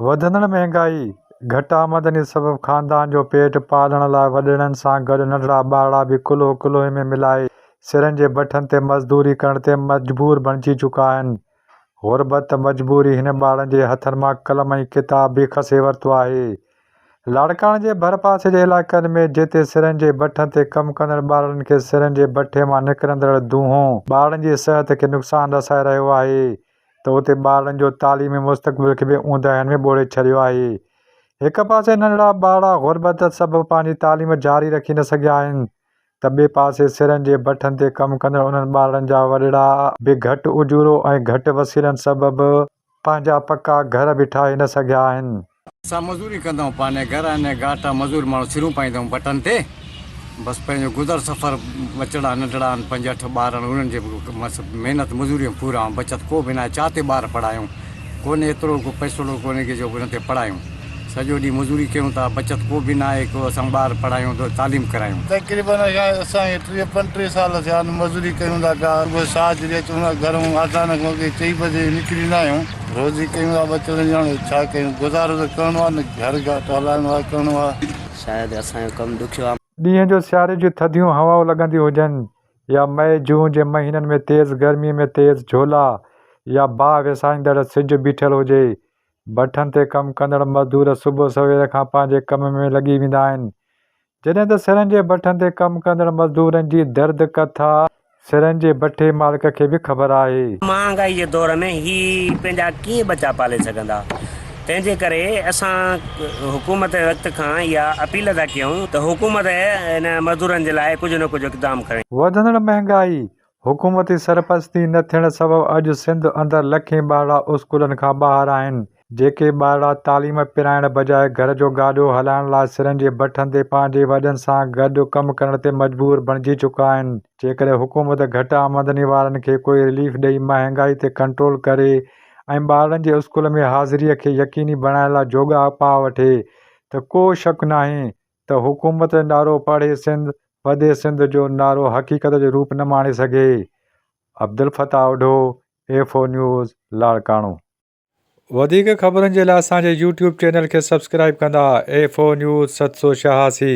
وڌندڙ مهانگائي، گهٽ آمدني سبب خاندان جو پيٽ پالڻ لاء وڏڙن سان گڏ ننڍڙا ٻارڙا به ڪلهو ڪلهوئي ۾ ملائي سرن جي بٺن تي مزدوري ڪرڻ تي مجبور بڻجي چڪا آهن. غربت، مجبوري هن ٻارڙن جي هٿن مان قلم ۽ ڪتاب به کسي ورتو آهي. لاڙڪاڻي جي ڀرپاسي جي علائقن ۾ جتي سرن جي بٺن تي ڪم ڪندڙ ٻارڙن کي سرن جي بٺي مان نڪرندڙ دونهون ٻارڙن جي صحت کي نقصان رسائي رهيو آهي ته اتي ٻارڙن جو تعليمي مستقبل کي به اونداهين ۾ ٻوڙي ڇڏيو آهي. هڪ پاسي ننڍڙا ٻارڙا غربت سبب پنهنجي تعليم جاري رکي نه سگهيا آهن ته ٻئي پاسي سرن جي بٺن تي ڪم ڪندڙ انهن ٻارڙن جا وڏڙا به گهٽ اجورو ۽ گهٽ وسيلن سبب پنهنجا پڪا گهر به ٺاهي نه سگهيا آهن. اسان مزوري ڪندائون پاني گهر آني گاٽا مزور ماڻهو سرون پائيندائون بٽن تي بس پنهنجو گذر سفر ٻچڙا ننڍڙا آن پنج اٺ ٻار آن انهن جي بس محنت مزوري ۾ پورا آن بچت ڪو به ناهي چا تي ٻار پڙهايون ڪونهي ايترو ڪو پئسوڙو ڪونهي ڪي جو انهن تي پڙهايون سڄو ڏينهن مزوري ڪيون ٿا بچت ڪو به ناهي ڪو اسان ٻار پڙهايون ته تعليم ڪرايون. تقريبن اسان کي ٽيهه پنجٽيهه سال ٿيا آن مزوري ڪيون ٿا پيا صبح ساجهه ريت گهرئون آٽاڻ کان اڳي چئي بجي نڪري ايندا آهيون روزي ڪيون ٿا ٻچڙن جي هاڻي ڇا ڪيون گذارو ته ڪرڻو آهي نه گهر گهاٽ هلائڻو آهي ڪرڻو آهي. شايد اسان جو ڪم ڏکيو آ. ڏينهن جو سياري جون ٿڌيون هوائون لڳنديون هجن يا مئي جون جي مهينن ۾ تيز گرمي ۾ تيز جهولا يا باهه وسائيندڙ سج بيٺل هجي. ڀٺن تي ڪم ڪندڙ مزدور صبح سوير کان پنهنجي ڪم ۾ لڳي ويندا آهن. جڏهن ته سرن جي بٺن تي ڪم ڪندڙ مزدورن جي درد ڪٿا سرن جي بٺي مالڪ کي به خبر آهي. مهانگائي جي دور ۾ هي پنهنجا ڪيئن ٻچا پالي سگهندا تنهن جي ڪري اسان حڪومت وقت کان اها اپيل ٿا ڪيون ته حڪومت هن مزدورن جي لاء ڪجهه نه ڪجهه اقدام کڻي. وڌندڙ مهانگائي حڪومتي سرپرستي نه ٿيڻ سبب اڄ سنڌ اندر لکين ٻارڙا اسڪولن کان ٻاهر آهن، جيڪي ٻارڙا تعليم پرائڻ بجاء گهر جو گاڏو هلائڻ لاء سرن جي بٺن تي پنهنجي وڏن سان گڏ ڪم ڪرڻ تي مجبور بڻجي چڪا آهن، جيڪڏهن حڪومت گهٽ آمدني وارن کي ڪوئي رليف ڏئي مهانگائي تي ڪنٽرول ڪري ۽ ٻارڙن جي اسڪول ۾ حاضري کي يقيني بڻائڻ لاء جوڳا اپاء وٺي ته ڪو شڪ ناهي ته حڪومت جو نعرو پاڙهي سنڌ وڌي سنڌ جو نعرو حقيقت جو روپ نه ماڻي سگهي. Abdul Fattah Odho, F O news, Larkana. وڌيڪ خبرن جي لاء اسان جي يوٽيوب چينل کي سبسڪرائيب ڪندا، ايف او نيوز ست سؤ ڇهاسي.